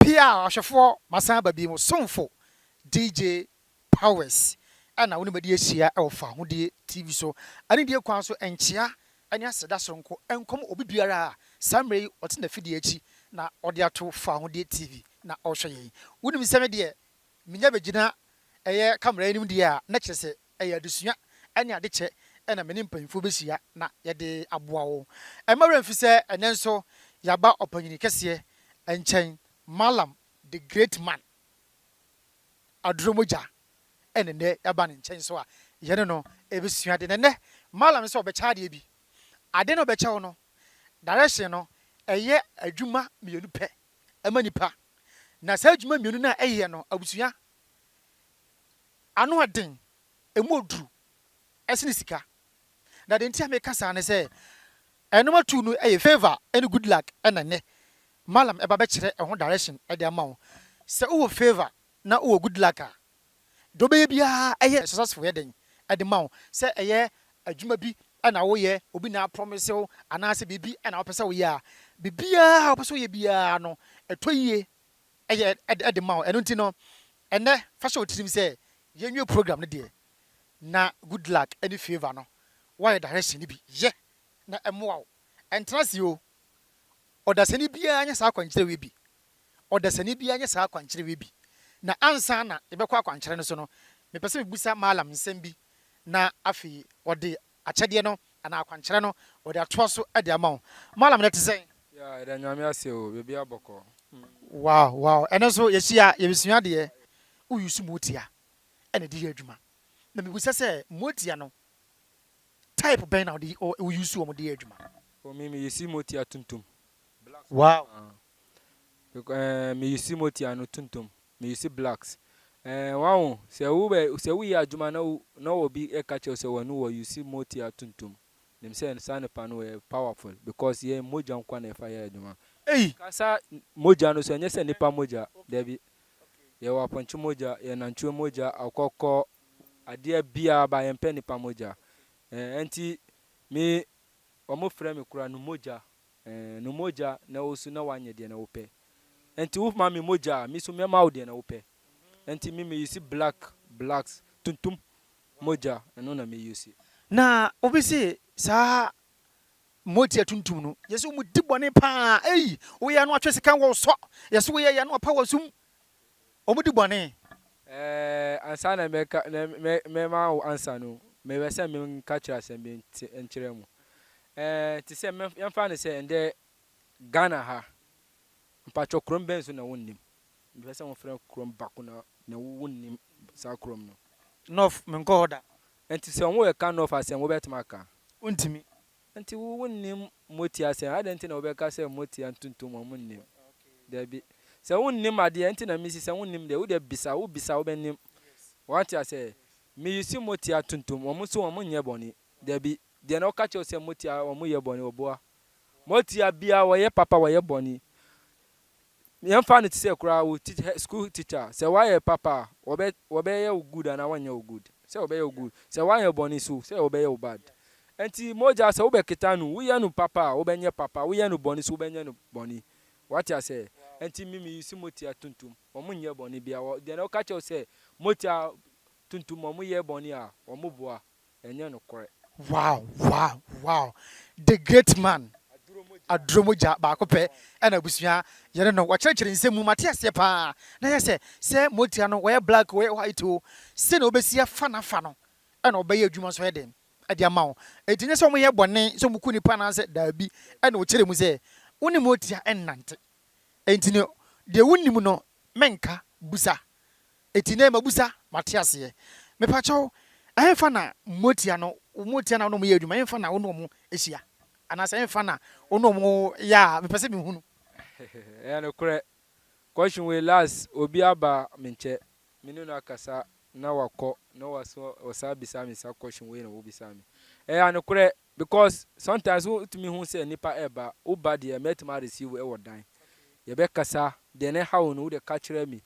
Pia ɔhwɛfoɔ Masan ba bio somfo DJ Powers na wo ne madi ahyia wɔ Fahodie TV so anidie kwan so nkyea ne aseda soronko nkɔm obi biara a saa mmerɛ yi ɔte nafidie akyi na ɔde ato Fahodie TV na ɔrehwɛ yɛn wonim sɛ me deɛ menya bɛgyina ɛyɛ camera anim deɛ a na kyerɛ sɛ Ɛyɛ adesua ne ade kyɛ na me ne mpanyimfo behyia na yɛde aboa wo. Mma werɛ mfi sɛ ɛnnɛ nso yɛaba Ɔpanyin Kɛseɛ nkyɛn, Mallam the Great Man, Aduro Mogya, ɛna ɛnnɛ yɛaba ne nkyɛn nso a yɛne no rebesua ade. Na ɛnnɛ Mallam no sɛ ɔbɛkyɛ adeɛ bi. Ade no a ɔbɛkyɛ wo no, direction no, ɛyɛ adwuma mmienu pɛ ma nnipa. Na saa adwuma mmienu no a ɛyɛ no, abusua, Ano yɛ den, emu yɛ duru sene sika. Na deɛ nti a meka saa ne sɛ, ɛnom atuu no yɛ Favour ne Goodluck na nnɛ Mallam ba bɛkyerɛ ɛho direction de ama wo. Sɛ wowɔ Favour na wowɔ Goodluck a, deɛ wobɛyɛ biara ɛyɛ successful yɛ den de ma wo. Sɛ ɛyɛ adwuma bi na woyɛ, obi na aprɔmese wo anaasɛ biribi na wopɛ sɛ woyɛ a, biribiara a wopɛ sɛ woyɛ biara no, ɛtɔ yie. yɛ de ma wo. Ɛno nti no, ɛnnɛ fa hyɛ wo tirim sɛ yɛnwie program no deɛ na Good Luck ne Favour no wɔayɛ direction no bi. Yɛ na ɛmmoa wo. Ɛntena ase oo. Ɔdasani biara nyɛ saa akwankyerɛ wei bi. Ɔdasani biara nyɛ saa akwankyerɛ wei bi. Na ansa na yɛbɛkɔ akwankyerɛ no so no, mepɛ sɛ mebisa Mallam nsɛm bi na afei ɔde akyɛdeɛ no anaa akwankyerɛ no wɔde atoa so de ama wo. Mallam ɛnɛ te sɛn? Yeah yɛda Nyame ase o bebia bɔkɔɔ. Wow wow ɛno nso yɛhyia yɛbɛsua adeɛ. Wo use motia na ɛde yɛ adwuma na mebisa sɛ motia no type bɛn na wo use wɔn de yɛ adwuma? Oh me me use motia tuntum. Black one Wow. ahh. Bec eh me use motia no tuntum. Me use blacks eh wahu sɛ wo bɛ sɛ wo yɛ adwuma na na wɔ bi ɛka kyɛw sɛ wanu wɔ use moti atuntum nim sɛ saa nipa no yɛ powerful because yɛ mogya nkwa na ɛfa yɛ adwuma ei kasa mogya no so ɛnyɛ sɛ nipa mogya dabi yɛ wɔ apɔnkye mogya yɛ nantwie mogya akɔkɔ adeɛ bia ba yɛn pɛ nipa mogya eh ɛnti me wɔn frɛ me kura no mogya Ɛɛ, no mogya na ɛwɔ so na wanyɛ deɛ na wopɛ. Ɛnti woma me mogya a, me nso mɛma wo deɛ na wopɛ. Ɛnti me me use black, blacks, tuntum, mogya, ɛno na me use. Na obi se, saa mogya tuntum no, yɛse wɔn di bɔne paa, ei, woyɛ ano atwe sika wɔ wo sɔ, yɛse woyɛ yɛ ano apa wɔ sum, wɔdi bɔne. Ɛɛ, ansa na mɛka, na mɛ, mɛma wo ansa no, mepɛ sɛ menka kyerɛ asɛm bi nti, nkyerɛ mo. Ɛɛ, te sɛ, mɛ, yɛmfa no sɛ ɛndɛ Ghana ha, mpakyɛ kurom bɛn so na wonnim? Mepɛ sɛ mofrɛ kurom baako na, na wonnim saa kurom no. North, menkɔɔ hɔ da. Nti sɛ wɔreka North asɛm, wobɛtumi aka? Wontumi. Nti wo wonnim motia sɛn? Adɛn nti na wobɛka sɛ motia ntontom a monnim? Dabi. Sɛ wonnim adeɛ a, nti na mesi sɛ wonnim deɛ? Wodeɛ bisa, wobisa a wobɛnim. Wate aseɛ? Me use motia tontom, wɔn nso wɔn nyɛ bɔne. Dabi. Deɛ na ɔka kyerɛ wo sɛ motia wɔn yɛ bɔne, ɔboa. Motia biara wɔyɛ papa wɔyɛ bɔne. Nea ɛmfa no te sɛ koraa wo teach hɛ school teacher a, sɛ woayɛ papa a, wɔbɛ wɔbɛyɛ wo good anaa wɔnyɛ wo good? Sɛ wɔbɛyɛ wo good. Sɛ woanyɛ bɔne nso, sɛ wɔbɛyɛ wo bad. Enti mogya sɛ wobɛketa no, woyɛ no papa a, wobɛnyɛ papa, woyɛ no bɔne nso, wobɛnyɛ no bɔne. Woate aseɛ? Enti me me use motia tuntum, wɔn nyɛ bɔne biara. Wɔ deɛ na ɔka kyerɛ wo sɛ motia tuntum wɔn yɛ bɔne a, wɔn boa. Ɛnyɛ nokorɛ. Wow wow wow the great man aduro mogya baako pɛ ɛna abusua yɛne no wakyerɛkyerɛ nsɛm mu mate aseɛ paa na yɛ sɛ sɛ motia no wɔyɛ black wɔyɛ white oo sɛnea wobɛsi afa nafa no ɛna ɔbɛyɛ adwuma nso ayɛ den de ama wo ɛti nyɛ sɛ ɔmo yɛ bɔne sɛ ɔmo ku nipa anaasɛ daabi ɛna ɔkyerɛ mu sɛ wo ne motia ɛnnante ɛnti no deɛ wo nim no mɛnka busa Eti nɛ mabusa mate aseɛ. Mepakyɛw ɛhenfa na moatia no moatia na wo ne ɔmo yɛ adwuma ɛhenfa na wo ne ɔmo hyia anaasɛ ɛhenfa na wo ne ɔmo yɛ a mepɛ sɛ mehunu. Ɛyɛ nokorɛ, kɔhwe wei last obi aba me nkyɛ me ne no akasa na wakɔ na waso ɔsan bisa me sa kɔhwe wei na wobisaa me ɛyɛ anokorɛ Because sometimes wo tumi hu sɛ nipa reba, wo ba deɛ mɛtumi a receive wo wɔ dan, yɛbɛ kasa, deɛ na ɛha wo no wo deɛ ka kyerɛ me,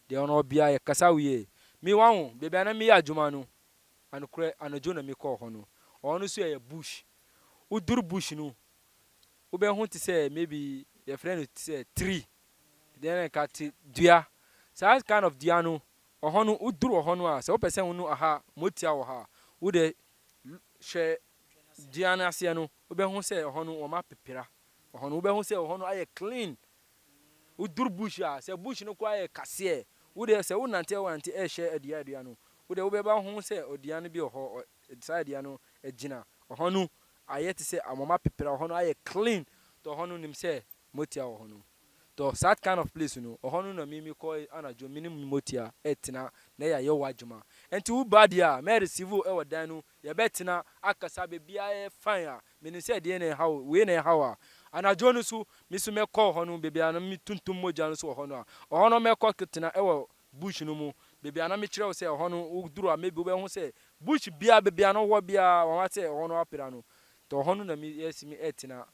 deɛ ɔno ɔbea yɛ kasa wiee, me wa ho, baabi a na me yɛ adwuma no, anokorɛ anadwo na me kɔɔ hɔ no, ɔhɔ no nso ɛyɛ bush, wo duru bush no, wo bɛ hu te sɛ maybe yɛ frɛ no te sɛ tree, deɛ na ɛka te dua, saa kind of dua no, ɔhɔ no wo duru ɔhɔ no a sɛ wo pɛ sɛ wo no aha motia wɔ ha a, wo deɛ Hwɛ dua no aseɛ no, wobɛhu sɛ ɛhɔ no wɔn apepera ɛhɔ no. Wobɛhu sɛ ɛhɔ no ayɛ clean. Woduru bush a, sɛ bush no koraa yɛ kaseɛ, wo deɛ sɛ wonante wonante ɛrehyɛ adua adua no, wo deɛ wobɛba ho sɛ dua no bi wɔ hɔ, saa dua no agyina. Ɛhɔ no ayɛ te sɛ wɔn apepera, ɛhɔ no ayɛ clean. Ɛhɔ no nim sɛ motia wɔ hɔ no tɔ such kind of place no ɔhɔ no na me me kɔ anadwo me ne motia ɛtena na yɛ ayɛ wa dwuma ɛnti wo ba deɛ a mɛ receive wo ɛwɔ dan no yɛ bɛ tena akasa bɛbia yɛ fine a me nim sɛ ɛdeɛ na ɛha wo wei na ɛha wo a anadwo no so me so mɛ kɔ ɔhɔ no bɛbia na me tuntum mogya no so ɔhɔ no a ɔhɔ no mɛ kɔ tena ɛwɔ bush no mu bɛbia na me kyerɛ wo sɛ ɔhɔ no wo duru a maybe wo bɛ ho sɛ bush bia bɛbia no wɔ bia wɔn asɛ ɔhɔ no apira no tɔ ɔhɔ no na me yɛ si me ɛtena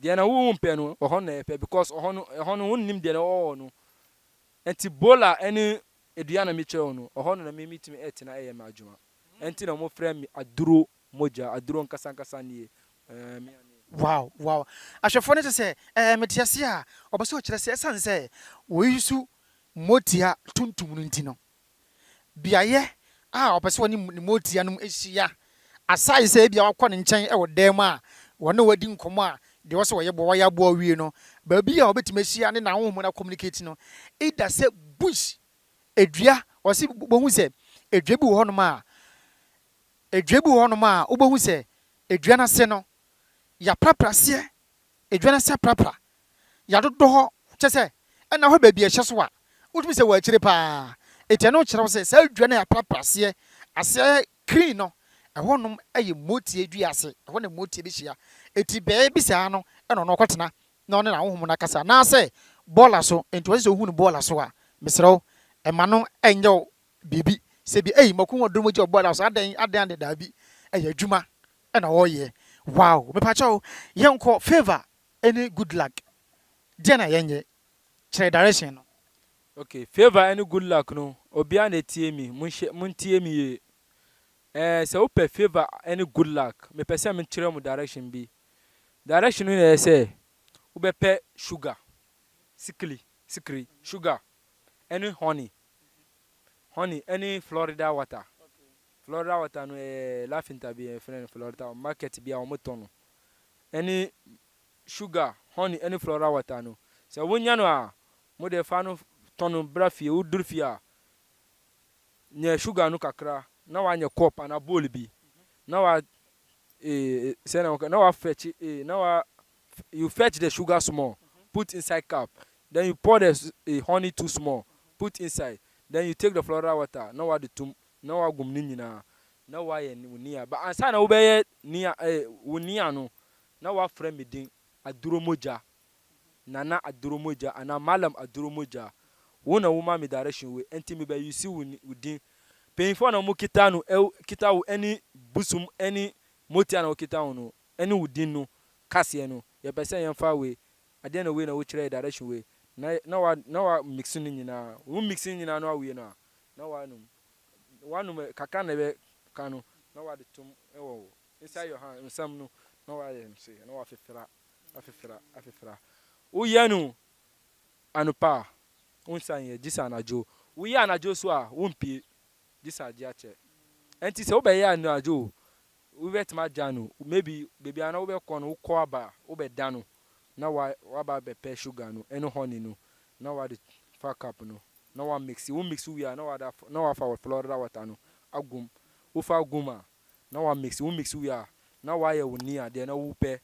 Deɛ na wo mpɛ no ɛhɔ na ɛpɛ because ɛhɔ no ɛhɔ no wo nnim deɛ na ɔwɔ hɔ no ɛnti bola ɛne ɛdua na me kyerɛ wo no ɛhɔ no na me me tumi ɛtena ɛyɛ me adwuma ɛnti na ɔmo frɛ me aduro mogya aduro nkasa nkasa nie ɛɛ me a me. Wow wow ahwɛfoɔ no kyɛ sɛ ɛɛ me te aseɛ a ɔpɛ sɛ ɔkyerɛ sɛ ɛsane sɛ wɔ use mogya tuntum no nti no. beaeɛ a ɔpɛ sɛ ɔne ne motia no hyia, aside sɛ ebia wakɔ ne nkyɛn wɔ dan mu a wɔne wadi nkɔmmɔ a deɛ ɔsɛ ɔyɛ boa wayɛ aboa awie no, baabi a ɔbɛtumi ahyia ne n'ahonhom no acommunicate no, either sɛ bush, dua, ɔse wobɛhu sɛ dua bi wɔ hɔnom a, dua bi wɔ hɔnom a wobɛhu sɛ dua no ase no, yɛaprapraseɛ Edwa no sɛ prapra, yɛadodɔ hɔ, kyerɛ sɛ, nna hɔ baabi a ɛhyɛ so a wotumi sɛ wɔ akyire paa. Enti ɛno kyerɛw sɛ saa dua no a yɛaprapra aseɛ aseɛ krii no, ɛhɔnom yɛ motie dua ase, ɛhɔ na motie bɛhyia. Enti bɛɛ bi saa no na ɔno ɔkɔtena na ɔne n'ahonhom no akasa. Anaasɛ bɔɔla so, enti wɔse sɛ wohu no bɔɔla so a, mesrɛ wo, mma no nyɛ wo biribi sɛ bi, ei, maku wɔ dɔ mu gya wɔ bɔɔla so, adɛn, adɛn, adɛn, daabi, ɛyɛ adwuma, na wɔyɛ wow mepakyɛw yɛnkɔ favour ne good luck deɛ na yɛnyɛ kyerɛ direction no. Ok favour ɛne good luck no obiaa na ɛtie me monhyɛ montie me yie ɛɛ sɛ wopɛ favour ɛne good luck mepɛ sɛ mekyerɛ mo direction bi direction no na ɛyɛ sɛ wobɛpɛ sugar sikli sikri sugar ɛne honey honey ɛne Florida water Florida water no yɛ lafinta bi yɛfrɛ no Florida wɔ market bi a wɔn tɔ no ɛne sugar, honey ɛne Florida water no sɛ wo nya no a mo deɛ fa no tɔ no bra fie wo duru fie a nyɛ sugar no kakra na wa nyɛ cup ana bowl bi na wa eh, sɛ na wɔka na wa fetch eh, na wa you fetch the sugar small put inside cup then you pour the eh, honey too small put inside then you take the Florida water na wa de tum Na wagum ne nyinaa, na wayɛ wo nia, but ansa na wobɛyɛ nia eh, wo nia no, na wafrɛ me din Aduromogya, Nana Aduromogya anaa Mallam Aduromogya. Wo na womaa me direction wei, ɛnti me bɛ use wo wo din. Mpanyinfoɔ na wɔn kita no eh, kita wo ɛne Busum ɛne Motia na wɔkita wo no, ɛne wo din no kaseɛ no, yɛpɛ sɛ yɛnfa wei, adeɛ na wei na wokyerɛ yɛ direction wei, na na wa na wa mix ne nyinaa, wo mix ne nyinaa na wawie no a, na woanom, woanom ɛ, kakra na ɛbɛ ka no na woade tom wɔ wo, inside your hand, nsam no, na woayɛ no sei, na woafefra, afefra, afefra. Woyɛ no anɔpa a, wonsan nyɛ, gye sɛ anadwo. Woyɛ anadwo nso a, wompie, gye sɛ agye akyɛ. Ɛnti sɛ wobɛyɛ anadwo o, wobɛtumi agya no, maybe baabi a na wobɛkɔ no, wokɔ aba a, wobɛda no, na woa, woaba abɛpɛ sugar no ne honey no, na woade fa cup no. na wa mixi, wo mixi wie a na wada na wafa wɔ Florida water no agu mu, wo fa gu mu a na wa mixi, wo mixi wie a na wayɛ wo ni adeɛ na wo pɛ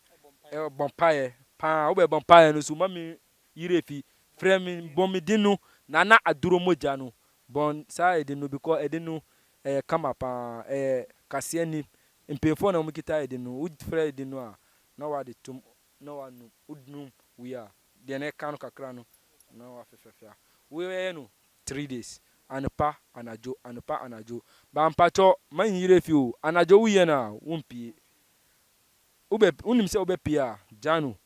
ɛbɔ mpaeɛ paa, wo bɛ bɔ mpaeɛ no so ma me yere fi frɛ me bɔ me din no Nana Aduro mogya no bɔ saa ɛdin no because ɛdin no ɛyɛ kama paa ɛyɛ kaseɛ ni mpanyinfoɔ na wɔn kita ɛdin no, wo frɛ ɛdin no a na wade tom na wa num, wo num wie a. deɛ na ɛka no kakra no na wafefɛfea woyɛ no three days anopa anadwo anopa anadwo ba mpakyɛ ma nyiyere fi o anadwo woyɛ no a wompie wobɛ wonim sɛ wobɛpie a gya no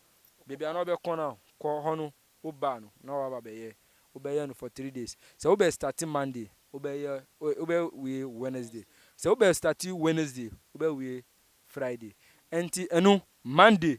baabi a na wobɛkɔ no kɔ hɔ no woba no na waba bɛyɛ wobɛyɛ no for three days sɛ wobɛ start monday wobɛyɛ wobɛwie wednesday sɛ wobɛ start wednesday wobɛwie friday ɛnti ɛno monday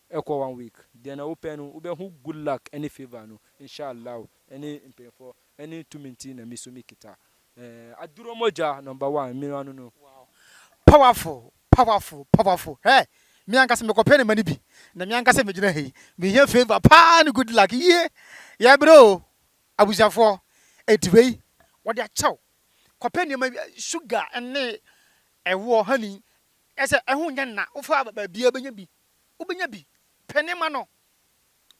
Ɛkɔ one week deɛ na wopɛ no wobɛhu good luck ɛne favour no inshallah ɛne mpanyinfoɔ ɛne tumi nti na me so me kita ɛɛ aduro mogya number one me ano no. Wow powerful powerful powerful hɛ me ankasa mekɔ pɛ ne ma no bi na me ankasa me gyina ha yi me hia favour paa ne good luck yie yɛ brɛ oo abusuafoɔ ɛnti wei wɔde akyɛ wo kɔ pɛ nneɛma bi sugar ɛne ɛwoɔ honey ɛsɛ ɛho nyɛ nna wo fa ba baabiara bɛnya bi. wobɛnya bi, pɛ ne ma no,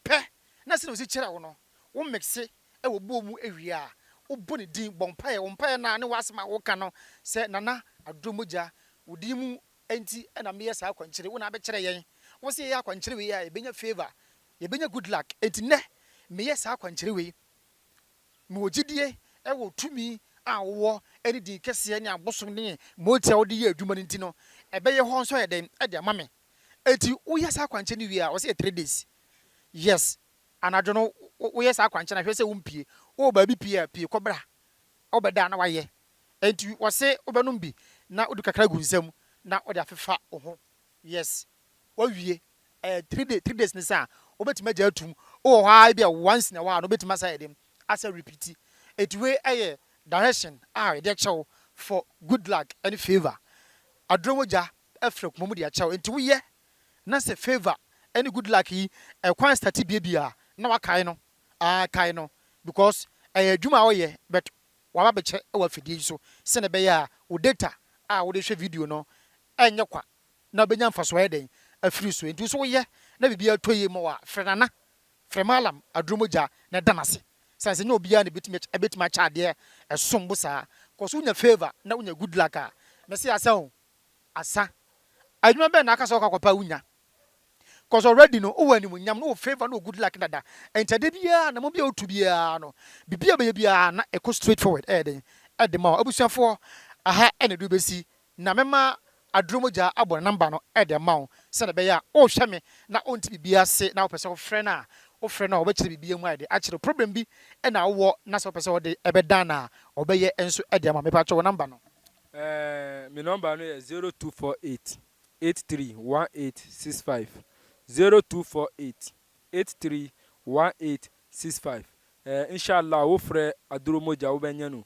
pɛ na sɛdeɛ ɔsi kyerɛ wo no wo mixe wɔ bowl mu wie a wobɔ ne din, bɔ mpaeɛ, wo mpaeɛ no a ne w'asɛm a woka no sɛ Nana Adom Mogya wo din mu nti na meyɛ saa akwankyire wo na abɛkyerɛ yɛn, wo sɛ yɛyɛ akwankyerɛ wei a yɛbɛnya favour, yɛbɛnya good luck nti nnɛ meyɛ saa akwankyerɛ wei. Mewɔ gyedie wɔ tumi a wowɔ ne din kɛseɛ ne abosom ne mogya a wode yɛ adwuma no nti no, ɛbɛyɛ hɔ nso ayɛ dɛn de ama me? Enti woyɛ saa kwankyɛ no wie a, wɔse yɛ three days. Yes, anadwo no woyɛ saa kwankyɛ no a, hwɛ sɛ wompie. Wowɔ baabi pii a, pie kɔbra. Wobɛda a na woayɛ. Enti wɔse wobɛnom bi na wode kakra agu nsa mu na wode afefa wo ho. Yes. Wawie ɛɛ three day three days ne saa wobɛtumi agya atum wowɔ hɔ aa ebia once na ɛwɔ aa no wobɛtumi asa ayɛ dɛm asa repeat ɛti wei ɛyɛ direction aa yɛde akyɛ wo for good luck ɛne favour aduro mogya ɛfiri akoma mu de akyɛ wo ɛnti woyɛ na sɛ favour ɛne good luck yi ɛkwan starte bie bia na wakae no aa kae no because ɛyɛ adwuma a woyɛ but waba bɛkyɛ ɛwɔ afidie yi so sɛnɛ ɛbɛyɛ aa wo data aa wode hwɛ video no ɛnyɛ kwa. na benya mfaso ayɛ dɛn afiri so? Enti so woyɛ na biribiara tɔ yie ma wo a, frɛ Nana, frɛ Mallam aduro mu gya na da no ase. Sane sɛ ɛnyɛ obiara na ɛbɛtumi akyɛ ɛbɛtumi akyɛ adeɛ a ɛsom bo saa. Kɔ so nya favour na wonya good luck a, mɛse asa o. Asa, adwuma bɛn na aka sɛ wokɔ akɔpɛ a wonnya? Cos already no wowɔ animuonyam, na wowɔ favour, na wowɔ good luck dada. Enti adeɛ biara, anammɔn biara a wotu biara no, biribiara a wobɛyɛ biara na ɛkɔ straight forward ɛyɛ dɛn? Ɛde ma wo. Abusuafoɔ, ɛha na ɛde wobɛsi Na mɛma aduro mogya abɔ ne namba no de ama wo, sɛdeɛ ɛbɛyɛ a worehwɛ me na wonte biribiara ase na wopɛ sɛ wofrɛ no a, wofrɛ no a ɔbɛkyerɛ biribiara mu ayɛ den akyerɛ wo. Problem bi na wowɔ na sɛ wopɛ sɛ wode bɛdan no a, ɔbɛyɛ nso de ama wo. Mepakyɛ wo namba no. Ɛɛ, me nɔmba no yɛ zero two four eight eight three one eight six five, zero two four eight eight three one eight six five. Ɛɛ inshallah wo frɛ aduro mogya wo bɛnyɛ no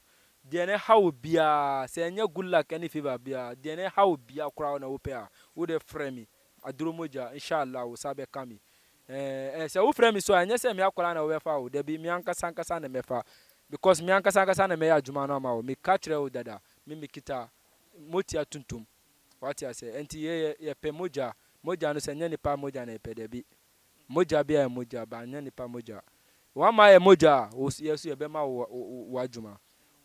deɛ no ɛha wo biaa sɛ ɛnyɛ good luck ɛne favor biaa deɛ no ɛha wo biaa koraa na wo pɛ a wo deɛ frɛ me aduro mogya inshallah wo sa bɛka me ɛɛ sɛ wo frɛ me so a ɛnyɛ sɛ me akwadaa na wo bɛfa o dabi me ankasa ankasa na mɛfa because me ankasa ankasa na mɛyɛ adwuma no ama wo me ka kyerɛ wo dada me me kita motia tuntum wate asɛ ɛnti yɛ yɛ yɛpɛ mogya mogya no sɛ ɛnyɛ nipa mogya na yɛpɛ dabi. Mogya biara yɛ mogya, but anyɛ nnipa mogya. W'ama ayɛ mogya a, wo so, yɛ so yɛbɛma wo w'adwuma.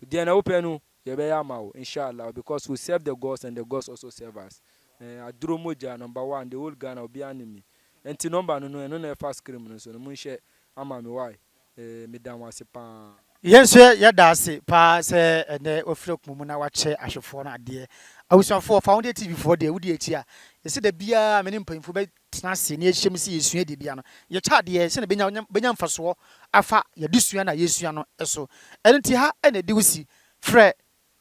Deɛ na wopɛ no, yɛbɛyɛ ama wo, inshallah, because we serve the gods and the gods also serve us. Eh, aduro mogya, number one, the whole Ghana, obiara nim me. Nti number no no, ɛno na ɛfa scream no so no, monhyɛ ama me, why? Ee, meda wo ase paa. Yɛn nso yɛda ase paa sɛ ɛnnɛ woafiri akoma mu na woakyɛ ahwɛfoɔ no adeɛ. Abusuafoɔ, fa wo deɛ TV foɔ deɛ, wodi akyi a, yɛsɛ da biara me ne mpanyimfoɔ bɛtena ase na yɛahyia mu sɛ yɛsua deɛ bia no, yɛkyɛ adeɛ sɛdeɛ ɛbɛnya nya bɛnya mfasoɔ afa yɛadesua no a yɛresua no so. Ɛno nti ha na ɛde wo si. Frɛ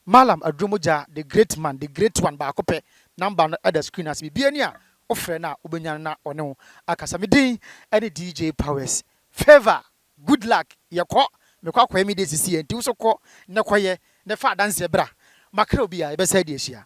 Mallam Adwomo gyaa the great man, the great one baako pɛ, number no da screen ase, biribiara ni a wofrɛ no a wobɛnya no na ɔne wo akasa. Me din ne DJ Powers. Favour, good luck, yɛkɔ, mekɔ akɔyɛ me deɛ sisi yɛ nti wo nso kɔ na kɔyɛ na fa adanseɛ bra, makra obi a yɛbɛsan adi ahyia.